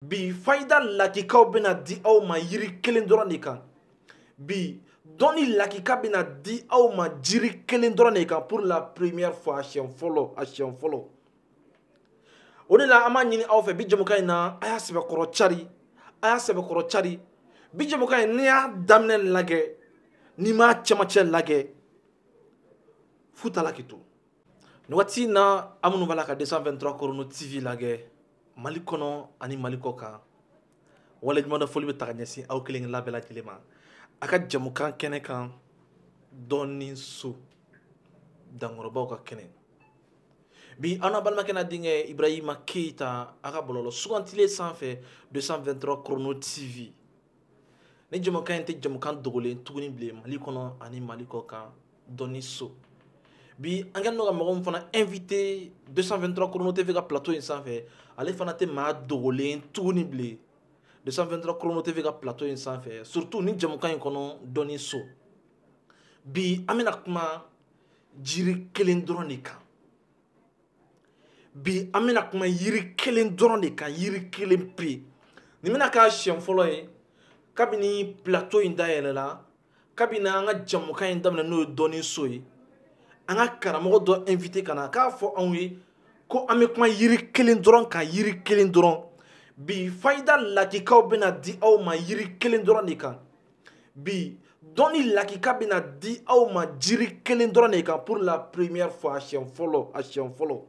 bi fayida lakikaw bɛna di aw ma yiri kelen dɔrɔn de kan bi dɔnni lakika bɛna di aw ma jiri kelen dɔrɔn de kan pour la première fois a siɲɛ fɔlɔ a siɲɛ fɔlɔ o de la an b'a ɲini aw fɛ bi jɛmukan in na a y'a sɛbɛkɔrɔ cari a y'a sɛbɛkɔrɔ cari bi jɛmukan in n'i y'a daminɛ lagɛ n'i m'a cɛmancɛ lagɛ fu t'a la k'i to nin waati in na an minnu b'a la ka 223 chrono tv lagɛ mali kɔnɔ ani mali kɔ kan waleɲumandɔn foli bɛ ta ka ɲɛsin aw kelen kelenna bɛɛ lajɛlen ma a ka jamukan kɛnɛ kan dɔnni so dankɔrɔbaw ka kɛnɛ bi an n'a balimakɛ n'a denkɛ ibrahima keyita a ka bɔlɔlɔ sugantilen sanfɛ 223 chrono tv nin jamukan in tɛ jamukan dogolen tuguni bilen mali kɔnɔ ani mali kɔ kan dɔnni so bi an kɛlen don ka mɔgɔ min fana invité 223 chrono tv ka plateau in sanfɛ ale fana tɛ maa dogolen tuguni bilen 223 chrono tv ka plateau in sanfɛ surtout nin jamukan in kɔnɔ dɔnni so bi an bɛna kuma jiri kelen dɔrɔn de kan bi an bɛna kuma yiri kelen dɔrɔn de kan yiri kelen pe nin bɛna k'a siɲɛ fɔlɔ ye kabini plateau in dayɛlɛla kabini an ka jamukan in daminɛ n'o ye dɔnni so ye an ka karamɔgɔ dɔ invité ka na k'a fɔ anw ye ko an bɛ kuma yiri kelen dɔrɔn kan yiri kelen dɔrɔn bi fayida lakikaw bɛna di aw ma yiri kelen dɔrɔn de kan bi dɔnni lakika bɛna di aw ma jiri kelen dɔrɔn de kan pour la première fois a siɲɛ fɔlɔ a siɲɛ fɔlɔ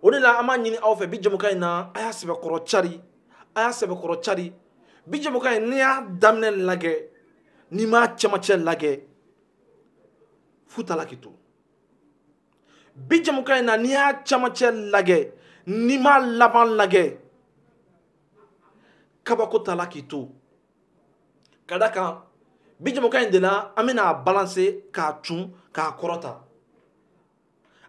o de la an b'a ɲini aw fɛ bi jɛmukan in na a y'a sɛbɛkɔrɔ cari a y'a sɛbɛkɔrɔ cari bi jɛmukan in n'i y'a daminɛ lajɛ n'i m'a cɛmancɛ lajɛ fu t'a la k'i to bi jɛmukan in na n'i y'a cɛmancɛ lajɛ n'i m'a laban lajɛ kabako t'a la k'i to ka da kan bi jamukan in de la an bɛna a balancer k'a cun k'a kɔrɔta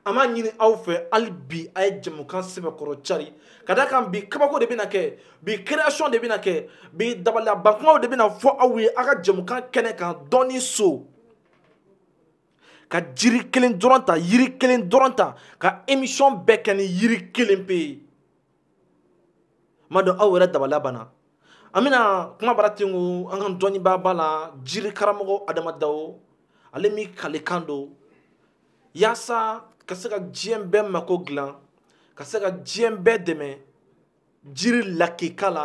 an b'a ɲini aw fɛ hali bi a ye jamukan sɛbɛkɔrɔ cari ka da kan bi kabako de bɛna kɛ bi création de bɛna kɛ bi dabaliyabankumaw de bɛna fɔ aw ye aw ka jamukan kɛnɛ kan dɔnni so ka jiri kelen dɔrɔn ta yiri kelen dɔrɔn ta ka émission bɛɛ kɛ ni yiri kelen pe ye m'a dɔn aw yɛrɛ dabaliya banna an bɛna kumabara ten ko an ka dɔnnibaaba la jiri karamɔgɔ adama dawo ale min kalekan don yaasa ka se ka diɲɛ bɛɛ mako dilan ka se ka diɲɛ bɛɛ dɛmɛ jiri lakika la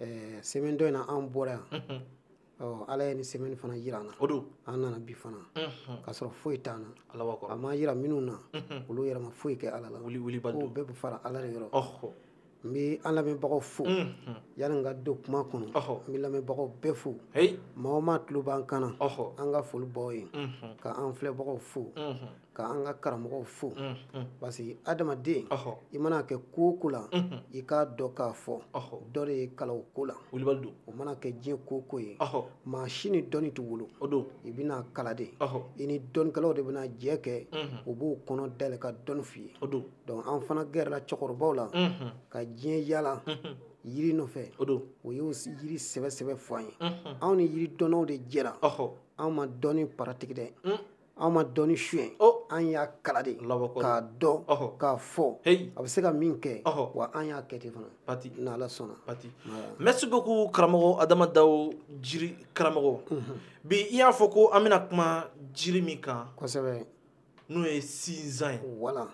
Ɛɛ semaine dɔ in na an bɔra yan ala ye nin semaine fana jira an na an nana bi fana k'a sɔrɔ foyi t'an na ala a ma jira minnu na olu yɛrɛ ma foyi kɛ ala la bɛɛ bɛ fara ala de yɔrɔ n bɛ an lamɛnbagaw fo yanni n ka don kuma kɔnɔ n bɛ lamɛnbagaw bɛɛ fo maa o maa tulo b'an kan na an ka foli b'aw ye k'an filɛbagaw fo ka an ka karamɔgɔw fo parce que adamaden i mana kɛ ko o ko la i k'a dɔn k'a fɔ dɔ de y'i kalan o ko la o mana kɛ diɲɛ ko o ko ye maa si ni dɔnni tɛ wolo i bɛna kalan de i ni dɔnnikɛlaw de bɛna jɛ kɛ u b'u kɔnɔ dayɛlɛ ka dɔnni f'i ye donc an fana gɛrɛla cɛkɔrɔbaw la ka diɲɛ yaala yiri nɔfɛ o y'o yiri sɛbɛ sɛbɛ fɔ an ye anw ni yiri dɔnnaw de jɛra anw ma dɔnni paratigi dɛ an ma dɔnni suɲɛ an y'a kalan de k'a dɔn k'a fɔ a bɛ se ka min kɛ wa an y'a kɛ ten fana pati ni Ala sɔnna pati merci beaucoup karamɔgɔ Adama Dawo jiri karamɔgɔ bi i y'a fɔ ko an bɛna kuma jiri min kan kosɛbɛ n'o ye sinzan ye voilà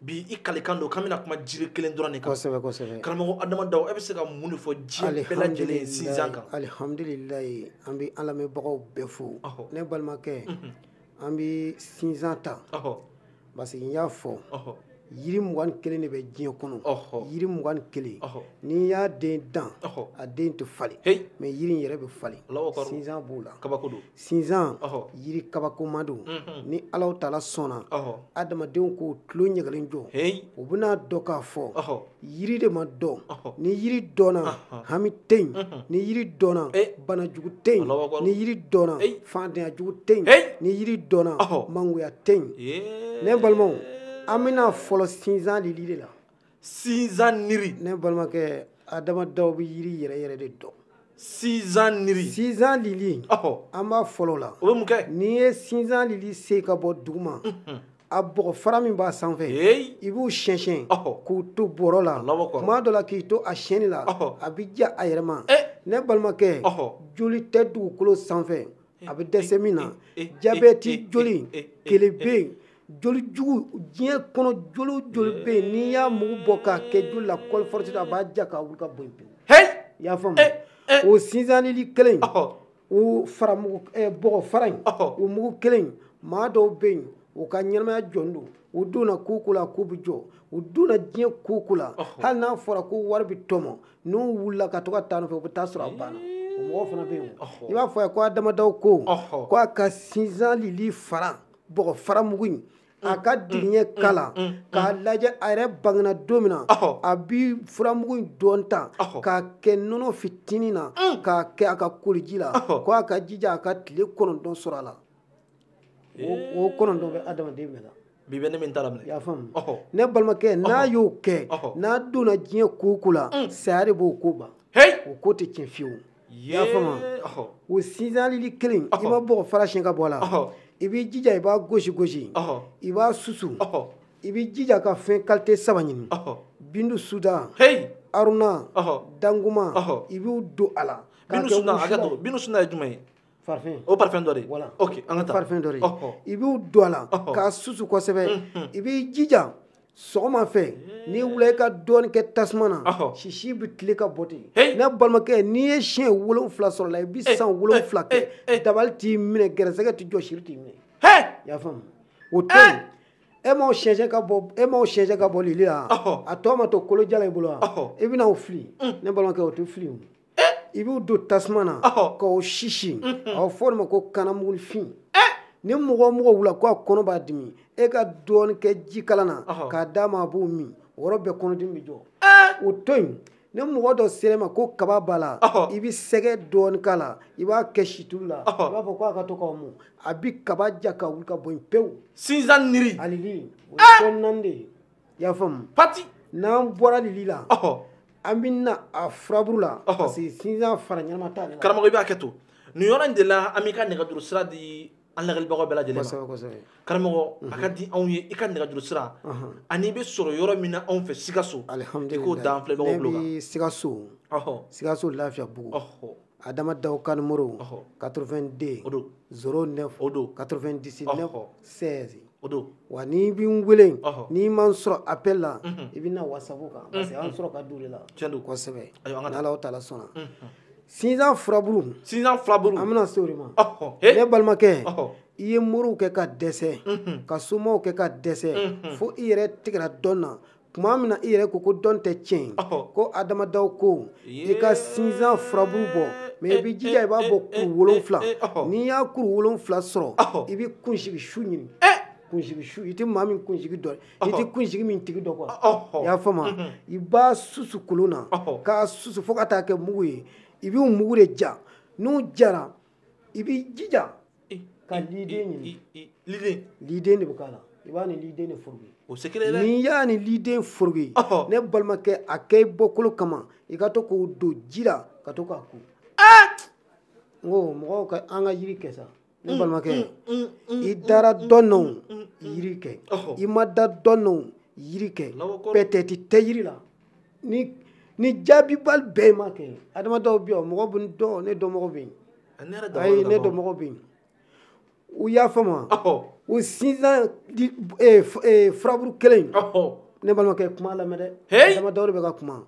bi i kalikan don k'an bɛna kuma jiri kelen dɔrɔn de kan kosɛbɛ kosɛbɛ karamɔgɔ adama dawo e bɛ se ka mun de fɔ diɲɛ bɛɛ lajɛlen ye sinzan kan alihamdulilayi an bɛ an lamɛnbagaw bɛɛ fo ne balimakɛ mhm. an bɛ sinzan ta parce que n y'a fɔ yiri mugan ni kelen de bɛ diɲɛ kɔnɔ yiri mugan ni kelen n'i y'a den dan a den tɛ falen mais yiri in yɛrɛ bɛ falen sinzan b'o la sinzan yiri kabakoma don ni alahu taala sɔnna adamadenw k'u tulo ɲɛgelen jɔ u bɛna a dɔn k'a fɔ yiri de ma dɔn ni yiri dɔnna hami tɛ yen ni yiri dɔnna bana jugu tɛ yen ni yiri dɔnna faantanya jugu tɛ yen ni yiri dɔnna mangoya tɛ yen ne balimaw an bɛna fɔlɔ sinzan lili de la sinzan niri ne balimakɛ adama dawo bɛ yiri yɛrɛ yɛrɛ de dɔn sinzan niri sinzan lili an b'a fɔlɔ la o bɛ mun kɛ n'i ye sinzan lili sen ka bɔ duguma a bɔgɔ fara min b'a sanfɛ i b'u siyɛnsiyɛn k'u to bɔrɔ la tuma dɔ la k'i to a siyɛnni la a bɛ ja a yɛrɛ ma ne balimakɛ joli tɛ dugukolo sanfɛ a bɛ dɛsɛ min na jabɛti joli kelen bɛ yen joli jugu diɲɛ kɔnɔ joli o joli bɛ yen n'i y'a mugu bɔ k'a kɛ joli la kɔli force a b'a ja k'a wuli ka bɔ yen pewu. hɛyi i y'a faamu eh, eh. o sinzan lili kelen in o fara mugu eh, bɔgɔ fara in o mugu kelen in maa dɔw bɛ yen u ka ɲɛnamaya jɔlen don u donna ko o ko la k'o bɛ jɔ u donna diɲɛ ko o ko la hali n'a fɔra ko wari bɛ tɔmɔ n'u wulila ka to ka taa a nɔfɛ u bɛ taa a sɔrɔ a banna. o mɔgɔw fana bɛ yen i b'a fɔ a ye ko adama dawo ko ko a ka sinzan lili fara bɔgɔ fara mugu in a ka diɲɛ kala k'a lajɛ a yɛrɛ bangena don min na a bi furamugu in dɔɔni ta k'a kɛ nɔnɔ fitinin na k'a kɛ a ka koliji la ko a ka jija a ka tile kɔnɔntɔn sɔrɔ a la o kɔnɔntɔn bɛ adamaden bɛɛ la bi bɛ ne min ta la minɛ i y'a faamu ne balimakɛ n'a y'o kɛ n'a donna diɲɛ ko o ko la saya de b'o ko ban o ko tɛ tiɲɛ fiyewu i y'a faamu wa o sinzan lili kelen i m'a bɔgɔ fara siyɛn ka bɔ a la i b'i jija i b'a gosi gosi i b'a susu i b'i jija ka fɛn kalite saba ɲini bindu sudan aruna danguma i b'u don a la bindu sudan hakɛ to bindu sudan ye jumɛn ye parfum o parfum dɔ de voilà ok an ka taa parfum dɔ de i b'o don a la k'a susu kosɛbɛ i b'i jija sɔgɔma fɛ ni wula i ka dɔɔni kɛ tasuma na sisi bɛ tile ka bɔ ten ne balimakɛ n'i ye siɲɛ wolonwula sɔrɔ a la i bɛ san wolonwula kɛ dabali t'i minɛ gɛrɛsɛgɛ t'i jɔ siri t'i minɛ i y'a faamu o to yen e m'a siyɛnsiyɛn ka bɔ lili la a tɔ ma to kolo jalan i bolo wa i bɛna o fili ne balimakɛ o tɛ fili o i b'u don tasuma na k'o sisi a bɛ fɔ o de ma ko kanamugunin fin ni mɔgɔ o mɔgɔ wulila k'a kɔnɔ b'a dimi e ka dɔɔnin kɛ jikalan na k'a d'a ma a b'o min o yɔrɔ bɛɛ kɔnɔdimi bɛ jɔ o to yen ni mɔgɔ dɔ sera e ma ko kaba b'a la i bɛ sɛgɛ dɔɔnin k'a la i b'a kɛ situlu la i b'a fɔ k'a ka to k'a mun a bɛ kaba ja ka wuli ka bɔ yen pewu sinzan lili a lili o ye fɛn naani de ye i y'a faamu pati n'an bɔra lili la an bɛ na a furaburu la parce que sinzan fara ɲɛnama t'ale la karamɔgɔ i b'a kɛ to nin yɔrɔ in de la an b'i ka nɛgɛjuru sira di an lajɛlibagaw bɛɛ lajɛlen ma karamɔgɔ a ka di anw ye i ka nɛgɛjuru sira ani i bɛ sɔrɔ yɔrɔ min na anw fɛ sikaso i k'o d'an filɛbagaw tulo kan ne bɛ sikaso sikaso lafiyabugu adama daw ka numéro quatre-vingt-deux zéro neuf quatre-vingt-dix-neuf seize o don wa n'i bɛ n weele n'i ma n sɔrɔ appel la i bɛ na whatsapp kan parce que an sɔrɔ ka di o de la tiɲɛ don kosɛbɛ ala taala sɔnna sinzan furaburu sinzan furaburu an bɛna se o de ma ne balimakɛ i ye moriw kɛ ka dɛsɛ ka somaw kɛ ka dɛsɛ fo i yɛrɛ tigɛra dɔn na tuma min na i yɛrɛ ko ko dɔn tɛ tiɲɛ ko adama daw ko i ka sinzan furaburu bɔ mɛ i b'i jija i b'a bɔ kuru wolonwula n'i y'a kuru wolonwula sɔrɔ i bɛ kunsigi su ɲini kunsigi su i tɛ maa min kunsigi dɔn i tɛ kunsigi min tigi dɔn kuwa i y'a faamu i b'a susu kolon na k'a susu fo ka taa kɛ mugu ye i b'u mugu de ja n'u jara i b'i jija ka liden ɲini liden liden de bɛ k'a la i b'a ni liden de foroki o se kelen dɛ n'i y'a ni liden foroki ne balimakɛ a kɛ i bɔkolo kama i ka to k'o don ji la ka to k'a ko eh! n ko mɔgɔw ka an ka yiri kɛ sa ne mm, balimakɛ mm, mm, i dara dɔn na o yiri kɛ i ma da dɔn na o yiri kɛ pɛtɛti tɛ yiri la ni ni jaabibali bɛɛ ma kɛ adama dawo bɛ yan mɔgɔ bɛ n dɔn ne dɔnmɔgɔ bɛ yen ayi ne dɔnmɔgɔ bɛ yen u y'a faamu o sinzan furaburu kelen ne balimakɛ kuma lamɛn dɛ adama dawo de bɛ ka kuma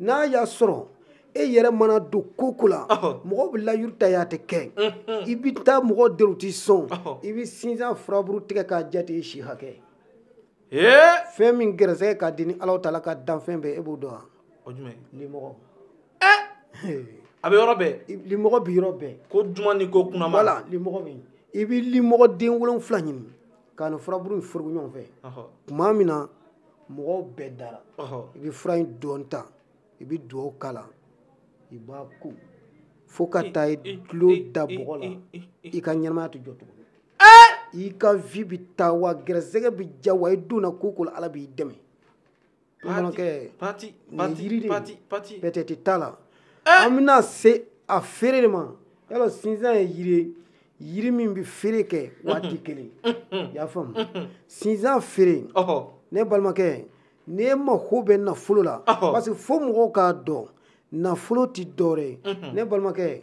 n'a y'a sɔrɔ e yɛrɛ mana don ko o ko la mɔgɔ bɛ layiru ta i y'a tɛ kɛ i bɛ taa mɔgɔw deli u tɛ sɔn i bɛ sinzan furaburu tigɛ k'a jate i si hakɛ fɛn min gɛrɛsɛgɛ ka di ni ala taala ka danfɛn bɛɛ e b'o dɔn wa limɔgɔ a bɛ yɔrɔ bɛɛ limɔgɔ bɛ yɔrɔ bɛɛ ko duman ni ko kunaman la limɔgɔ bɛ yen i bɛ limɔgɔ den wolonwula ɲini k'a ni furaburu in forogo ɲɔgɔn fɛ tuma min na mɔgɔw bɛɛ dara i bɛ fura in dɔɔnin ta i bɛ dugawu k'a la i b'a ko fo ka taa i tulo da bɔgɔ la i ka ɲɛnamaya tɛ jɔ tugun i ka vie bɛ taa wa gɛrɛsɛgɛ bɛ ja wa i donna ko o ko la ala b'i dɛmɛ bamanankɛ nin yiri de pɛtɛti t'a la eh! an bɛna se a feere de ma yala sinzan ye yiri ye yiri min bɛ feere kɛ waati kelen i y'a faamu sinzan feere ne balimakɛ n'e mako bɛ nafolo la parce que fo mɔgɔw k'a dɔn nafolo tɛ dɔwɛrɛ ye ne balimakɛ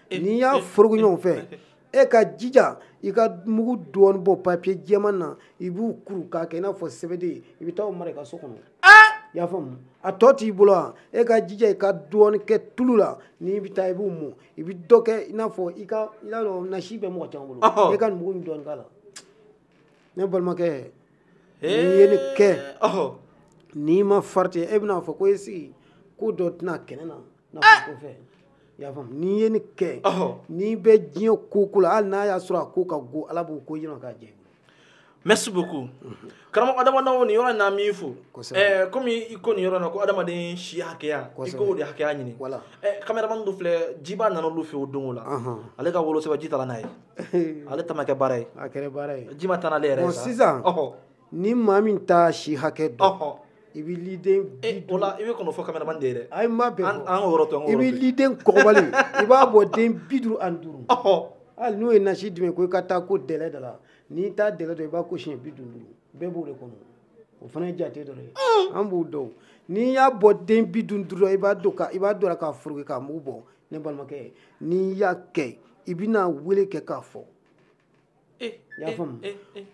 n'i y'a forogo ɲɔgɔn fɛ e ka jija i ka mugu dɔɔnin bɔ papiye jɛman na i b'u kuru k'a kɛ i n'a fɔ sɛbɛden i bɛ taa o mara i ka so kɔnɔ i y'a faamu a tɔ t'i bolo wa e ka jija i ka dɔɔnin kɛ tulu la n'i bɛ taa i b'u mɔ i bɛ dɔ kɛ i n'a fɔ i ka i n'a dɔn nasi bɛ mɔgɔ caman bolo e ka mugu in dɔɔnin k'a la ne balimakɛ n'i ye nin kɛ n'i ma farati e bɛna fɔ ko e sigi ko dɔ tɛna kɛnɛ na y'a faamu n'i ye nin kɛ n'i bɛ diɲɛ ko o ko la hali n'a y'a sɔrɔ a ko ka go ala b'o ko diya k'a jɛ merci beaucoup karamɔgɔ adama dawo nin yɔrɔ in na an b'i fo kɔmi i ko nin yɔrɔ in na ko adamaden si hakɛya i k'o de hakɛya ɲini voilà caméraman dɔ filɛ jiba nana olu fɛ o dugu la ale ka wolosɛbɛn ji taara n'a ye ale ta ma kɛ baara ye a kɛra baara ye ji ma taa n'ale yɛrɛ ye sisan ni maa min t'a si hakɛ dɔn ɔhɔ i bɛ liden bi e o la i bɛ kɔnɔ fɔ kameraman de ye dɛ ayi n m'a bɛɛ fɔ an k'o yɔrɔ to an k'o yɔrɔ bɛɛ to yen. liden kɔgɔbali i b'a bɔ den bi duuru ani duuru ɔhɔ hali n'o ye nasi d'i ma ko i ka taa ko dɛlɛ da la n'i t'a dɛlɛ dɔn i b'a ko siɲɛ bi duuru duuru bɛɛ b'o de kɔnɔ o fana ye jate dɔ de ye an b'o dɔn n'i y'a bɔ den bi duuru duuru la i b'a dɔn ka i b'a dɔn la k'a foroki k'a mugu bɔ ne balimakɛ n'i y'a kɛ i bɛna wele kɛ k'a fɔ i y'a faamu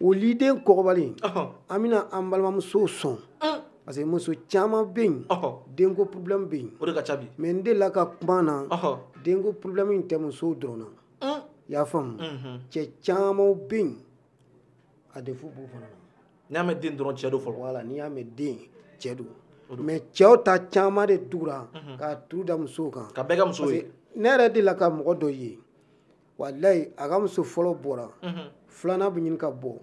o liden kɔgɔbali an bɛna an balimamusow sɔn parce que muso caman bɛ yen denko problème bɛ yen mais n delila ka kuma na denko problème in tɛ musow dɔrɔn na i y'a faamu cɛ caman bɛ yen a défaut b'u fana na n'i y'a mɛn den dɔrɔn cɛ don fɔlɔ voilà n'i y'a mɛn den cɛ don mais cɛw ta caman de tugura k'a tu da musow kan k'a bɛɛ kɛ musow ye ne yɛrɛ delila ka mɔgɔ dɔ ye walayi a ka muso fɔlɔ bɔra filanan bɛ ɲini ka bɔ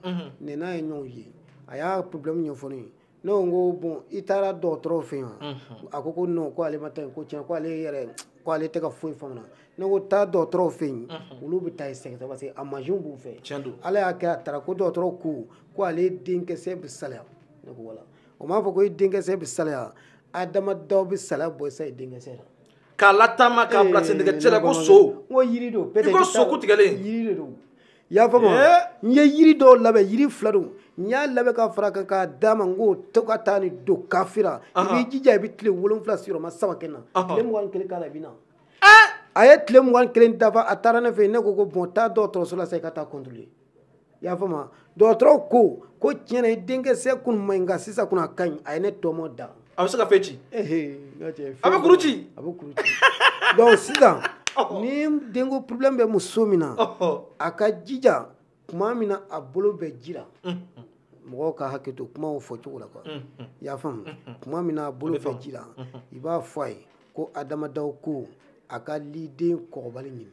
ne n'a ye ɲɔgɔn ye a y'a problème ɲɛfɔ ne ye ne ko n ko bon i taara dɔgɔtɔrɔw fɛ yen a ko ko non ko ale ma taa yen ko tiɲɛ ko ale yɛrɛ ko ale tɛ ka foyi faamuya ne ko taa dɔgɔtɔrɔw fɛ yen olu bɛ taa i sɛgɛsɛgɛ parce que a mansinw b'u fɛ tiɲɛ don ala y'a kɛ a taara ko dɔgɔtɔrɔw ko ko ale denkisɛ bɛ salaya ne ko voilà o m'a fɔ ko i denkisɛ bɛ salaya adama daw bɛ salaya bɔ i sa i denkisɛ la k'a lataama k'a bila sendɛgɛ cɛ la ko so n ko yiri don i ko so ku tigɛlen yiri de don i y'a faamu n ye yiri dɔw labɛn yiri fila don n y'a labɛn ka fara kan k'a d'a ma n ko to ka taa nin don kafe la i b'i jija i bɛ tile wolonwula sigiyɔrɔma saba kɛ na tile mugan ni kelen k'a la i bɛ na a ye tile mugan ni kelen dafa a taara ne fɛ yen ne ko ko bon taa dɔgɔtɔrɔso la sa i ka taa contrôler i y'a faamu dɔgɔtɔrɔw ko ko tiɲɛ na i denkisɛ kun man ɲi nka sisan kun a ka ɲi a ye ne tɔmɔ da a bɛ se ka fɛn ci a bɛ kuru ci a bɛ kuru ci donc sisan ni denko problème bɛ muso min na a k'a jija tuma min na a bolo bɛ ji la mɔgɔw ka hakɛ to kumaw fɔ cogo la quoi i y'a faamu tuma min na a bolo bɛ ji la i b'a fɔ a ye ko adama daw ko a ka liden kɔgɔbali ɲini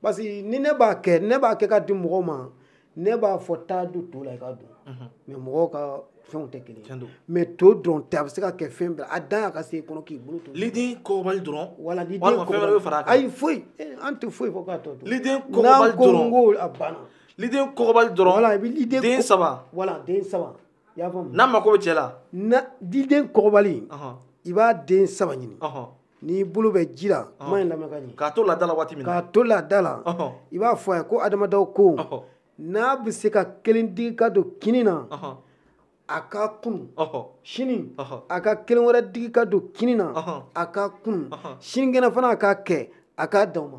parce que ni ne b'a kɛ ne b'a kɛ ka di mɔgɔw ma ne b'a fɔ taa don to la i ka don mhm. mais mɔgɔw ka fɛnw tɛ kelen mais to dɔrɔn tɛ a bɛ se ka kɛ fɛn bɛɛ a dan y'a ka se i kɔnɔ k'i bolo to liden kɔgɔbali dɔrɔn wala liden walima fɛn wɛrɛ bɛ fara a kan ayi foyi eh, an tɛ foyi fɔ k'a tɔ to liden kɔgɔbali dɔrɔn n'an ko a banna liden kɔgɔbali dɔrɔn voilà i bɛ liden den saba voilà den saba i y'a faamu n'a mako bɛ cɛ la na diden kɔgɔbali ɔhɔn, i b'a den saba ɲini ɔhɔn. n'i bolo bɛ ji la kuma in lamɛn ka ɲɛ k'a to laada la waati min na k'a to laada la ɔhɔn, i b'a fɔ a ye ko adama daw ko ɔhɔn, n'a bɛ se ka kelen digi ka don kini na ɔhɔn, a ka kunu ɔhɔn, sini Ɔhɔ. a ka kelen wɛrɛ digi ka don kini na Ɔhɔ. a ka kunu Ɔhɔ. sinikɛnɛ fana a k'a kɛ a k'a dan o ma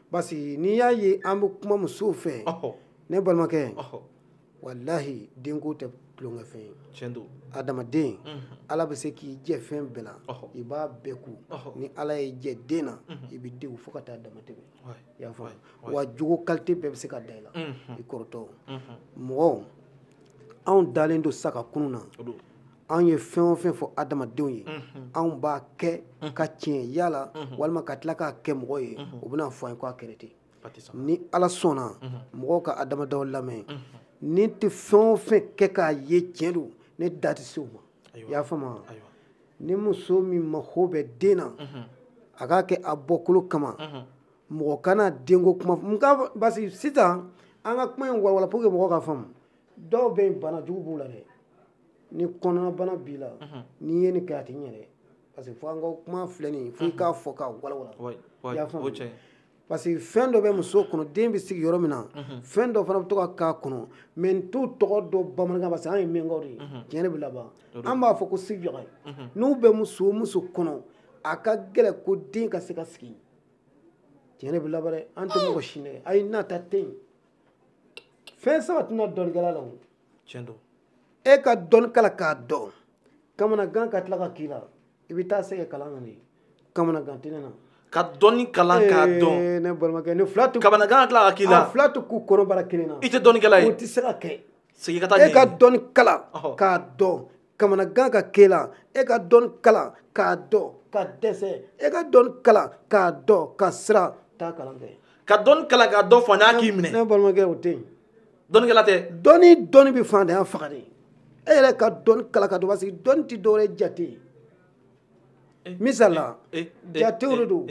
parce que n'i y'a ye an bɛ kuma musow fɛ ne balimakɛ walahi denko tɛ tulonkɛ fɛn ye tiɲɛ don adamaden ala bɛ se k'i jɛ fɛn bɛɛ la i b'a bɛɛ kun ni ala y'i jɛ den na i bɛ degun fo ka taa dama tɛmɛ i y'a faamu wa jogo qualité bɛɛ bɛ se ka da i la i kɔrɔtɔ mɔgɔw anw dalen don sa ka kunun na anw ye fɛn o fɛn fɔ adamadenw ye anw b'a kɛ ka tiɲɛ yala walima ka tila k'a kɛ mɔgɔ ye o bɛna fɔ an ye k'a kɛra ten ni ala sɔnna mɔgɔw ka adama daw lamɛn ne tɛ fɛn o fɛn kɛ k'a ye tiɲɛ don ne da tɛ se o ma i y'a faamu ni muso min mako bɛ den na a k'a kɛ a bɔkolo kama mɔgɔ kana denko kuma parce que sisan an ka kuma in walawala pour que mɔgɔ ka faamu dɔw bɛ yen bana jugu b'u la dɛ ni kɔnɔnabana b'i la n'i ye nin kɛ a tɛ ɲɛ dɛ parce que fo an ka kuma filɛ nin ye fo i k'a fɔ k'a walawala Oui, oui, i y'a faamu o cɛ. parce que fɛn dɔ bɛ muso kɔnɔ den bɛ sigi yɔrɔ min na fɛn dɔ fana bɛ to ka k'a kɔnɔ mais n t'u tɔgɔ dɔn bamanankan parce que an ye minyankaw de ye tiɲɛ de bɛ laban an b'a fɔ ko sifiyaga n'u bɛ muso o muso kɔnɔ a ka gɛlɛn ko den ka se ka sigi tiɲɛ de bɛ laban dɛ an tɛ mɔgɔ si nɛgɛn ayi nata tɛ yen fɛn saba tɛna dɔnnikɛla la o tiɲɛ don e ka dɔnni kalan k'a dɔn kamanagan ka tila ka k'i la i bɛ taa segin kalan na de kamanagan tɛ ne na ka dɔnni kalan k'a dɔn ee, ne balimakɛ nin fila tɛ kamanagan ka tila ka k'i la a fila tɛ kun kɔnɔbara kelen na i tɛ dɔnnikɛla ye o tɛ se ka kɛ segin ka taa e ka dɔnni kalan k'a dɔn kamanagan ka k'e la e ka dɔnni kalan k'a dɔn ka dɛsɛ e ka dɔnni kalan k'a dɔn ka siran taa kalan kɛ ka dɔnni kalan k'a dɔn fantanya k'i minɛ ne balimakɛ o tɛ yen dɔnnikɛla tɛ dɔnni dɔnni bɛ fantanya faga de e yɛrɛ ka dɔnni kalan k'a dɔn parce que dɔnni tɛ dɔwɛrɛ jate ye eh, misali la eh, eh, jatew de don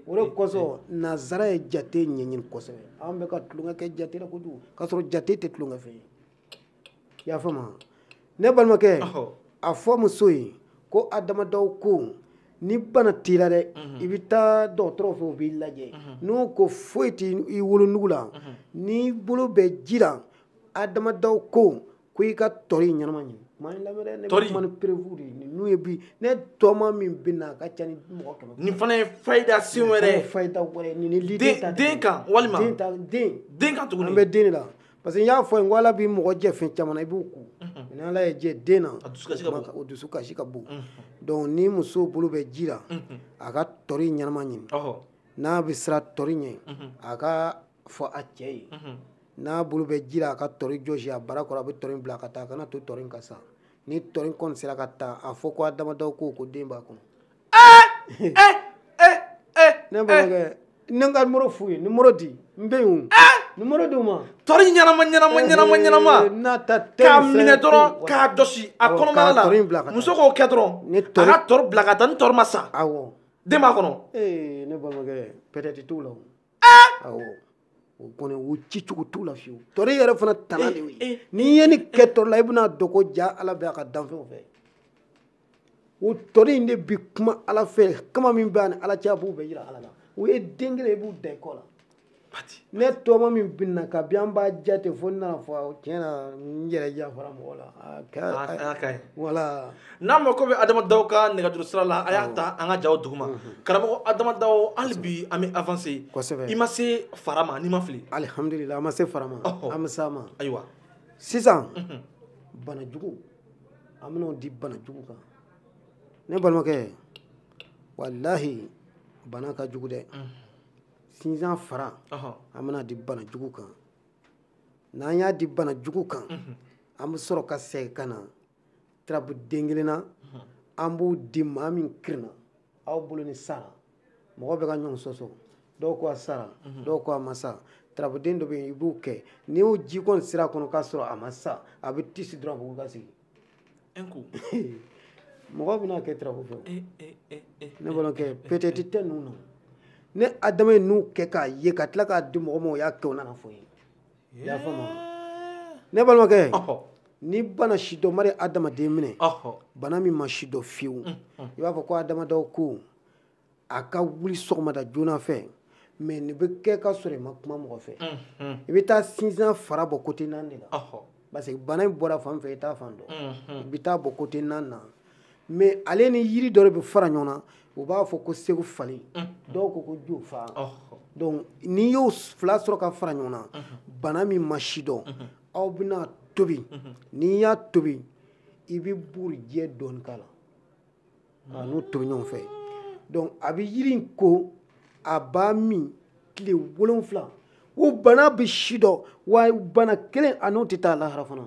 o de kosɔn nazara ye jate ɲɛɲini kosɛbɛ an bɛ ka tulonkɛ kɛ jate la kojugu k'a sɔrɔ jate tɛ tulonkɛ fɛn ye i y'a faamu ne balimakɛ a fɔ muso ye ko adama daw ko ni bana t'i la dɛ mhm. i bɛ taa dɔgɔtɔrɔw fɛ u b'i lajɛ mhm. n'u ko foyi tɛ i wolonugu la mhm. n'i bolo bɛ ji la adama daw ko ko i ka tɔri ɲɛnama ɲini maa in lamɛn dɛ ne bɛ kuma ni preuve de ye n'o ye bi ne tɔma min bɛ na a ka ca ni mɔgɔ kɛmɛ nin fana ye fayida sen wɛrɛ ye fayida wɛrɛ nin ni liden ta den kan walima den ta den den kan tuguni an bɛ den de la parce que n y'a fɔ i ye ko ala bɛ mɔgɔ jɛ fɛn caman na i b'u kun ni ala y'i jɛ den na o dusukasi ka bon donc ni muso bolo bɛ ji la a ka tɔri ɲɛnama ɲini n'a bɛ siran tɔri ɲɛ a k'a fɔ a cɛ ye n'a bolo bɛ ji la a ka tɔri jɔsi a barakɔrɔ a bɛ tɔri bila ka taa a kana to tɔri ka sa ni tɔri kɔni sera ka taa a fɔ ko adama daw ko ko den b'a kɔnɔ ne balimakɛ ne ka numéro f'u ye numéro di n bɛ yen numéro di u ma tɔri ɲɛnama ɲɛnama ɲɛnama ɲɛnama k'a minɛ dɔrɔn k'a jɔsi a kɔnɔbara la muso k'o kɛ dɔrɔn a ka tɔri bila ka taa ni tɔri ma sa den b'a kɔnɔ ne balimakɛ peut-être t'u la o kɔni o ci cogo t'u la fiyewu tɔri yɛrɛ fana tana de y'o ye eh, eh, n'i ye ni eh, kɛ tɔri la i bɛna dɔn ko jaa ala bɛ a ka danfɛnw fɛ o tɔri in de bi kuma ala fɛ kama min bɛ a ni ala cɛ a b'o bɛɛ yira ala la o ye den kelen i b'u da i kɔ la ne tɔɔma min binna kabi an b'a jate fo n nana fɔ tiɲɛ na n yɛrɛ jafara mɔgɔ la a ka ɲi wala n'a mako bɛ adama daw ka nɛgɛjuru sira la a y'a ta an ka jaw duguma karamɔgɔ adama daw hali bi an bɛ avancer kosɛbɛ i ma se fara ma ni n ma fili alihamudulila an ma se fara ma an bɛ s'a ma ayiwa sisan bana jugu an bɛn'o di bana jugu kan ne balimakɛ walahi bana ka jugu dɛ sinsan fara an bɛna di bana jugu kan n'an y'a di bana jugu kan an bɛ sɔrɔ ka segin ka na tarabu den kelen na an b'o di maa min kirinna aw bolo ni sara mɔgɔ bɛ ka ɲɔgɔn sɔsɔ dɔw ko a sara dɔw ko a ma sa tarabuden dɔ bɛ yen i b'o kɛ n'i y'o ji kɔni sira kɔnɔ k'a sɔrɔ a ma sa a bɛ tisi dɔrɔn a bɛ wuli ka sigi mɔgɔ bɛna kɛ tarabu fɛ eh, eh, eh, ne balimakɛ peut-être tɛ ninnu na ne adama ye ninnu kɛ k'a ye ka tila k'a di mɔgɔ ma o y'a kɛ o nana fɔ n ye i y'a faamu ne balimakɛ ni bana sidɔnbali adamaden minɛ bana min ma sidɔn fiyewu mm, mm. i b'a fɔ ko adama daw ko a ka wuli sɔgɔmada joona fɛ mais nin bɛ kɛ ka sɔrɔ i ma kuma mɔgɔ fɛ mm, i bɛ taa sinsan fara bɔ côté naani de la parce que bana in bɔra fan fɛ i t'a fan dɔn i bɛ taa bɔ côté naani na mais ale ni yiri dɔ de bɛ fara ɲɔgɔn na u b'a fɔ ko segufali dɔw ko ko jofa donc n'i y'o fila sɔrɔ ka fara ɲɔgɔn na bana min ma sidɔn aw bɛna tobi n'i y'a tobi i bɛ bugurijɛ dɔɔni k'a la k'a n'o tobi ɲɔgɔn fɛ donc a bɛ yiri in ko a b'a min tile wolonfila o bana bɛ sidɔn wa bana kelen a n'o tɛ taa lahara fana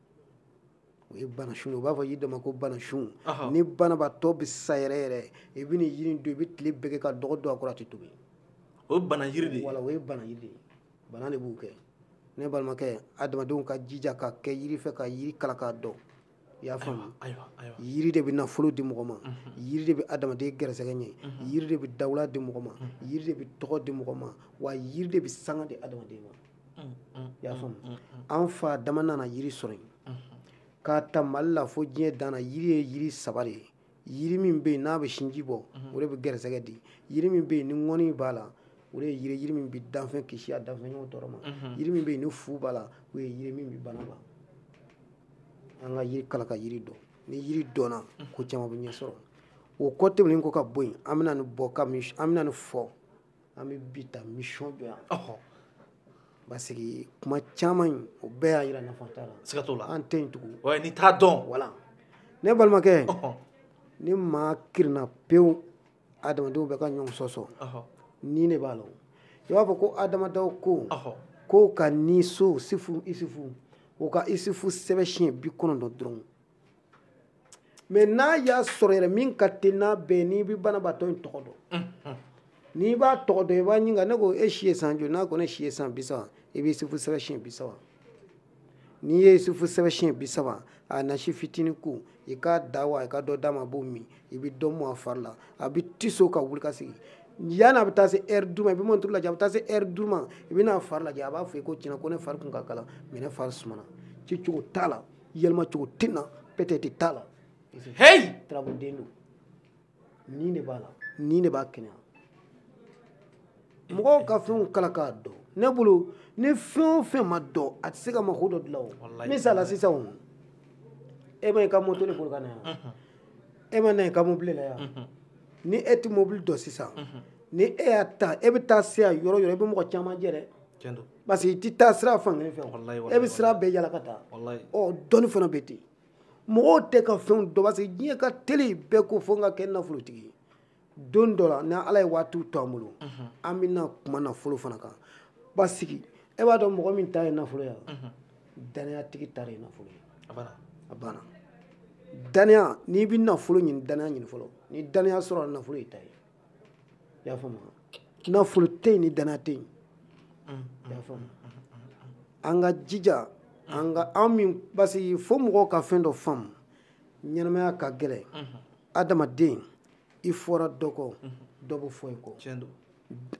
o ye banasun ye u b'a fɔ yiri dɔ ma ko banasun ni banabaatɔ bɛ sa yɛrɛ yɛrɛ i bɛ nin yiri in don i bɛ tile bɛɛ kɛ ka dɔgɔ don a kɔrɔ a tɛ tobi o ye bana yiri de ye wala o ye bana yiri de ye bana de b'o kɛ ne balimakɛ adamadenw ka jija ka kɛ yiri fɛ ka yiri kalan k'a dɔn i y'a faamu yiri de bɛ nafolo di mɔgɔ ma yiri de bɛ adamaden garisɛgɛ ɲɛ yiri de bɛ dawula di mɔgɔ ma yiri de bɛ tɔgɔ di mɔgɔ ma wa yiri de bɛ sanga di adamaden ma i y'a faamu an fa adama nana yiri sɔrɔ yen k'a ta mali la fo diɲɛ dan na yiri ye yiri saba de ye yiri min bɛ yen n'a bɛ sinji bɔ o de bɛ gɛrɛsɛgɛ di yiri min bɛ yen ni ŋɔni b'a la o de ye yiri yiri min bɛ danfɛn kisi a danfɛnɲɔgɔn tɔɔrɔ ma yiri min bɛ yen ni fu b'a la o ye yiri min bɛ bana ban an ka yiri kalan ka yiri dɔn ni yiri dɔnna ko caman bɛ ɲɛ sɔrɔ o kɔ tɛmɛnen ko ka bɔ yen an bɛna nin bɔ ka min an bɛna nin fɔ an bɛ bi ta mission jɔ yan parce que kuma caman in o bɛɛ y'a jira nafa t'a la siga t'o la an tɛ yen tugun ouais n'i t'a dɔn voilà ne balimakɛ ni maa kirinna pewu adamadenw bɛ ka ɲɔgɔn sɔsɔ ni ne b'a la i b'a fɔ ko adamadenw ko ko ka ni so sifu isufu o ka isufu sɛbɛn siɲɛ bi kɔnɔntɔn dɔrɔn mais n'a y'a sɔrɔ yɛrɛ min ka teli n'a bɛɛ n'i bɛ banabaatɔ in tɔgɔ dɔn mm-hmm. n'i b'a tɔgɔ dɔn i b'a ɲininka ne ko e si ye san joli n'a ko ne si ye san bi saba i bɛ isufu sɛbɛn siɲɛ bi saba n'i ye isufu sɛbɛn siɲɛ bi saba a nasi fitinin ko i k'a da wa i ka dɔ d'a ma a b'o min i bɛ dɔ mun a fari la a bɛ tiso ka wuli ka sigi yanni a bɛ taa se ɛri duuru ma i bɛ mɔnturu lajɛ a bɛ taa se ɛri duuru ma i bɛ n'a fari lajɛ a b'a fɔ i ko tiɲɛ na ko ne fari kun ka kalan mais ne fari sumana ci cogo t'a la yɛlɛma cogo tɛ na peut-être t'a la hey tarabu den don nin de b'a la nin de b'a kɛnɛya mɔgɔw ka fɛnw kalan k'a dɔn ne bolo ni fɛn o fɛn ma dɔn a tɛ se ka mako dɔ dilan o misala sisan o e ma i ka moto de boli ka na yan mhm. e ma na i ka mobili la yan mhm. ni e tɛ mobili dɔn sisan mhm. ni e y'a ta e bɛ taa se a yɔrɔ yɔrɔ i bɛ mɔgɔ caman jɛ dɛ parce que i tɛ taa sira fan kelen fɛ e bɛ sira bɛɛ yala ka taa ɔ dɔnni fana bɛ ten mɔgɔw tɛ ka fɛnw dɔn parce que diɲɛ ka teli bɛɛ ko fo n ka kɛ nafolotigi ye don dɔ la ni ala ye waatiw to an bolo an bɛna kuma nafolo fana kan parce que e b'a dɔn mɔgɔ min ta ye nafolo ye danayatigi ta de ye nafolo ye a banna danaya n'i bɛ nafolo ɲini danaya ɲini fɔlɔ ni danaya sɔrɔla nafolo y'i ta ye i y'a faamu nafolo tɛ yen ni danaya tɛ yen i y'a faamu an k'an jija an ka an min parce que fo mɔgɔw ka fɛn dɔ faamu ɲɛnamaya ka gɛlɛn adamaden i fɔra dɔ kɔ dɔ bɛ fɔ i kɔ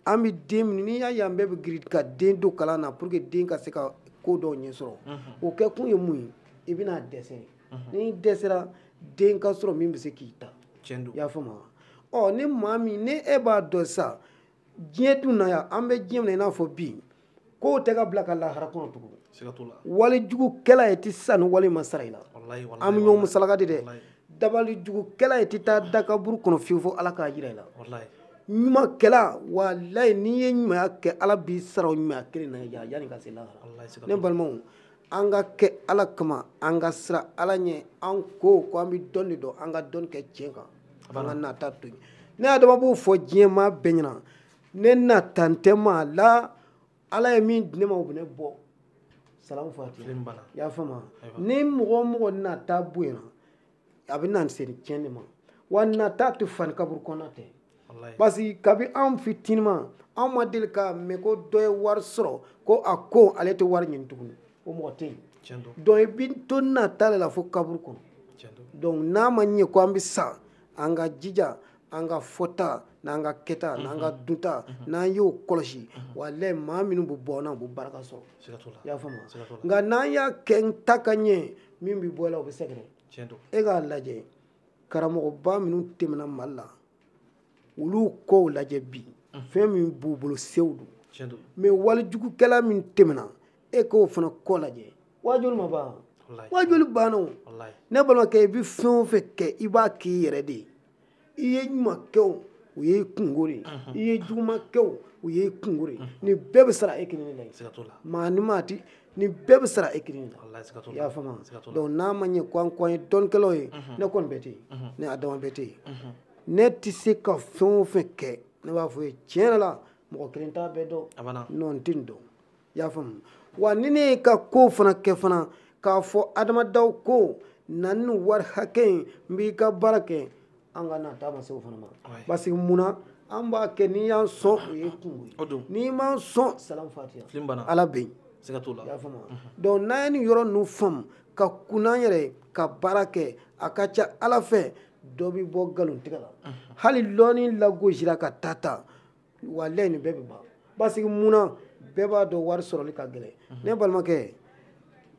an bɛ den minnu n'i y'a ye an bɛɛ bɛ girin ka den don kalan na pour que den ka se ka ko dɔw ɲɛ sɔrɔ o kɛ kun ye mun ye i bɛna a dɛsɛ mhm. n'i dɛsɛra den ka sɔrɔ min bɛ se k'i ta i y'a faamu wa ɔ ni maa min ni e b'a dɔn sa diɲɛ dun na yan an bɛ diɲɛ minɛ i n'a fɔ bi kow tɛ ka bila ka lahara kɔnɔ tugun wali jugukɛla e tɛ sa ni wali ma sara i la an bɛ ɲɔgɔn musalaka de dɛ dabali jugukɛla e tɛ taa da kaburu kɔnɔ fiyewu fo ala k'a jira i la ɲuman kɛla walayi n'i ye ɲumanya kɛ ala b'i sara o ɲumanya kelen na yanni i ka se lahara ne balimaw an ka kɛ ala kama an ka siran ala ɲɛ an ko ko an bɛ dɔn de dɔn an ka dɔn kɛ tiɲɛ kan an ka nata to yen ne adama b'o fɔ diɲɛ maa bɛɛ ɲɛna ne nata tɛ maa la ala ye min di ne ma o bɛ ne bɔ salamu fatiha i y'a faamu ni mɔgɔ o mɔgɔ nata bonyana a bɛ na se tiɲɛ de ma wa nata tɛ fa ni kaburu kɔnɔ tɛ parce que kabi anw fitinima anw ma deli k'a mɛn ko dɔ ye wari sɔrɔ ko a ko ale tɛ wari ɲini tuguni o mɔgɔ tɛ yen donc i bɛ to nata de la fo kaburu kɔnɔ donc n'a ma ɲɛ ko an bɛ sa an ka jija an ka fɔta n'an ka kɛta mhm. n'an ka dunta mhm. n'an y'o kɔlɔsi mhm. walayi maa minnu bɛ bɔ an na u bɛ baraka sɔrɔ i y'a faamu nka n'an y'a kɛ n ta ka ɲɛ min bɛ bɔ e la o bɛ sɛgɛrɛ e k'a lajɛ karamɔgɔba minnu tɛmɛna mali la olu kɔw lajɛ bi fɛn min b'u bolo sew don mais walijugukɛla min tɛmɛna e k'o fana kɔ lajɛ waajuli ma ban waajuli banna ne balimakɛ i bɛ fɛn o fɛn kɛ i b'a k'i yɛrɛ de ye i ye ɲuman kɛ o o y'i kunko de ye i ye juguman kɛ o o y'i kunko de ye nin bɛɛ bɛ sara e kelen de la maa ni maa ti nin bɛɛ bɛ sara e kelen de la i y'a faamu donc n'a ma ɲɛ ko an ko an ye dɔnnikɛlaw ye ne kɔni bɛ ten ne adama bɛ ten ne tɛ se ka fɛn o fɛn kɛ ne b'a fɔ i ye tiɲɛ yɛrɛ la mɔgɔ kelen t'a bɛɛ dɔn non n tɛ nin dɔn i y'a faamu wa ni ne y'i ka kow fana kɛ fana k'a fɔ adama dɔw ko na ni wari hakɛ ye n b'i ka baara kɛ an ka nata ma se o fana ma parce que mun na an b'a kɛ n'i y'an sɔn o y'i kunko ye n'i m'an sɔn salam fatiha ala bɛ yen i y'a faamu donc n'an ye nin yɔrɔ ninnu faamu ka kun an yɛrɛ ye ka baara kɛ a ka ca ala fɛ dɔ bɛ bɔ nkalontigɛ la hali lɔnni lagosira ka taa taa walayi nin bɛɛ bɛ ban parce que mun na bɛɛ b'a dɔn wari sɔrɔli ka gɛlɛn mhm. ne balimakɛ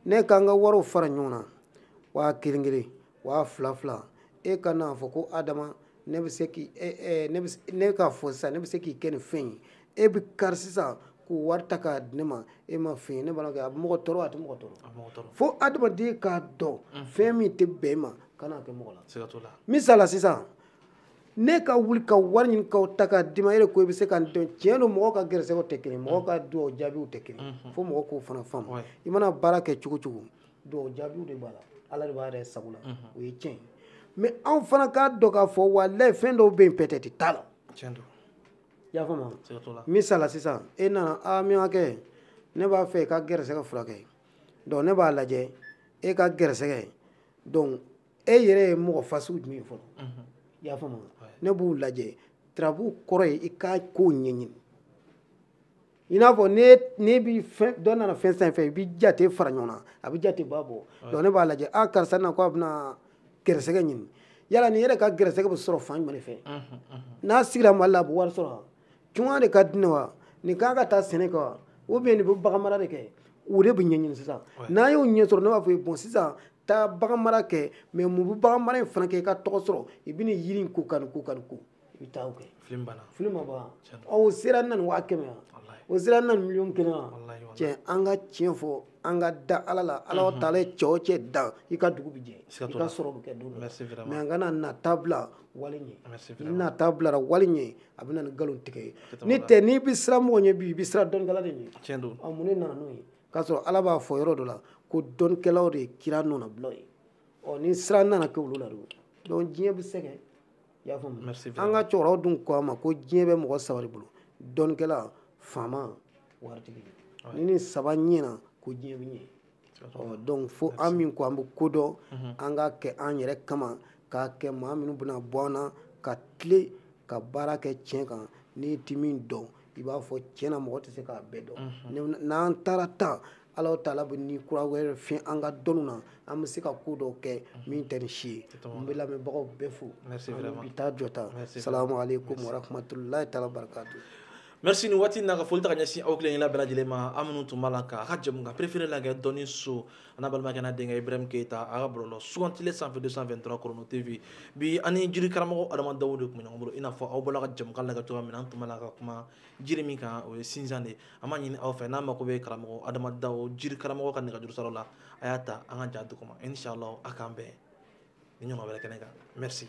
ne k'an ka wariw fara ɲɔgɔn na waa kelen kelen waa fila fila e kan'a fɔ ko adama ne bɛ se k'i e, e, ne bɛ ne k'a fɔ sisan ne bɛ se k'i kɛ nin fɛn ye e bɛ kari sisan k'o wari ta k'a di ne ma e ma fɛn ye ne balimakɛ a bɛ mɔgɔ tɔɔrɔ a tɛ mɔgɔ tɔɔrɔ fo adamaden k'a dɔn mhm. fɛn min tɛ bɛn e ma kan'a kɛ mɔgɔ la misali la sisan ne ka wuli ka wari ɲini k'a ta k'a d'i ma e de ko i bɛ se ka nin dɔn tiɲɛ don mɔgɔw ka gɛrɛsɛgɛw tɛ kelen mɔgɔw ka dugawu jaabiw tɛ kelen mhm. fo mɔgɔw k'o fana faamu i mana baara kɛ cogo cogo dugawu jaabiw de b'a la ala de b'a yɛrɛ sago la mhm. o ye tiɲɛ ye mɛ anw fana k'a dɔn k'a fɔ walayi fɛn dɔw bɛ yen pɛtɛti t'a la i y'a faamu misala sisan e nana a min ka kɛ ne b'a fɛ i ka gɛrɛsɛgɛ furakɛ donc ne b'a lajɛ e ka gɛrɛsɛgɛ donc e yɛrɛ ye mɔgɔ fasugu jumɛn ye fɔlɔ mhm. i y'a faamu ne b'u lajɛ turabu kɔrɔ ye i ka kow ɲɛɲini i n'a fɔ ne bi dɔ nana fɛn san fɛ i bi jate fara ɲɔgɔn na a bɛ jate ba bɔ donc ne b'a lajɛ a ah, karisa na ko a bɛna gɛrɛsɛgɛ ɲini yala nin yɛrɛ ka gɛrɛsɛgɛ bɛ sɔrɔ fan jumɛn fɛ mhm, mhm. n'a sigira mali la a bɛ wari sɔrɔ tunga de ka di ne wa nin kan ka taa sɛnɛ kɛ wa ou bien nin bɛ bagan mara de kɛ o de bɛ ɲɛɲini sisan n'a y'o ɲɛ sɔrɔ ne b'a fɔ ye bon sisan taa bagan mara kɛ mɛ mun bɛ bagan mara in fana kɛ i ka tɔgɔ sɔrɔ i bɛ nin yiri in ko ka nin ko ka nin ko i bɛ taa o kɛ film banna film ma ban o sera na nin waa kɛmɛ yan o sera na nin miliyɔn kelen yan cɛ an ka tiɲɛ fɔ an ka da ala la alahu taala ye cɛ o cɛ dan i ka dugu bɛ jɛ i ka sɔrɔ bɛ kɛ don dɔ mɛ an kana nata bila wali ɲɛ ni nata bilara wali ɲɛ a bɛ na ni nkalon tigɛ ye ni tɛ n'i bɛ siran mɔgɔ ɲɛ bi i bɛ siran dɔnnikɛla de ɲɛ tiɲɛ don a mun de nana n'o ye k'a sɔrɔ ala b'a fɔ yɔrɔ dɔ la ko dɔnnikɛlaw de ye kira nɔnabila ye ɔ ni siran nana kɛ olu la don donc diɲɛ bɛ sɛgɛn i y'a faamu an ka cɛkɔrɔbaw dun ko a ma ko diɲɛ bɛ mɔgɔ saba de bolo dɔnnikɛla faama waritigi ni nin saba ɲɛna ko diɲɛ bɛ ɲɛ ɔ donc fo an min ko an bɛ ko dɔn mhm. an k'a kɛ an yɛrɛ kama k'a kɛ maa minnu bɛna bɔ an na ka tile ka baara kɛ tiɲɛ kan n'i ti min dɔn i b'a fɔ tiɲɛ na mɔgɔ tɛ se k'a bɛɛ dɔn mhm. n'an taara tan ala taala bɛ ni kura wɛrɛ fiyɛ an ka dɔnniw na an bɛ se ka ko dɔw kɛ mhm. min tɛ nin si ye n bɛ lamɛnbagaw bɛɛ fo an bɛ bi ta jɔ tan salamu aleykum warahmatulahi taala wa barakatu merci nin waati na ka foli ta ka ɲɛsin aw kelenkela bɛɛ lajɛlen ma aw minnu tun b'a la ka aw ka jɛmukan préféré lagɛ dɔnni so an'aw balimakɛ n'aw denkɛ ibrahim keita a ka bɔlɔlɔ sugantile sanfɛ 223 chrono tv bi ani jiri karamɔgɔ adama dawu de tun bɛ ɲɔgɔn bolo i n'a fɔ aw bɔla ka jɛmukan lagɛ cogoya min na an tun b'a la ka kuma jiri min kan o ye sinjan de an b'a ɲini aw fɛ n'aw mako bɛ karamɔgɔ adama dawu jiri karamɔgɔ ka nɛgɛjuru siraw la a y'a ta an ka ja duguma inshallah a k'an bɛn nin ɲɔgɔn wɛrɛ kɛnɛ kan merci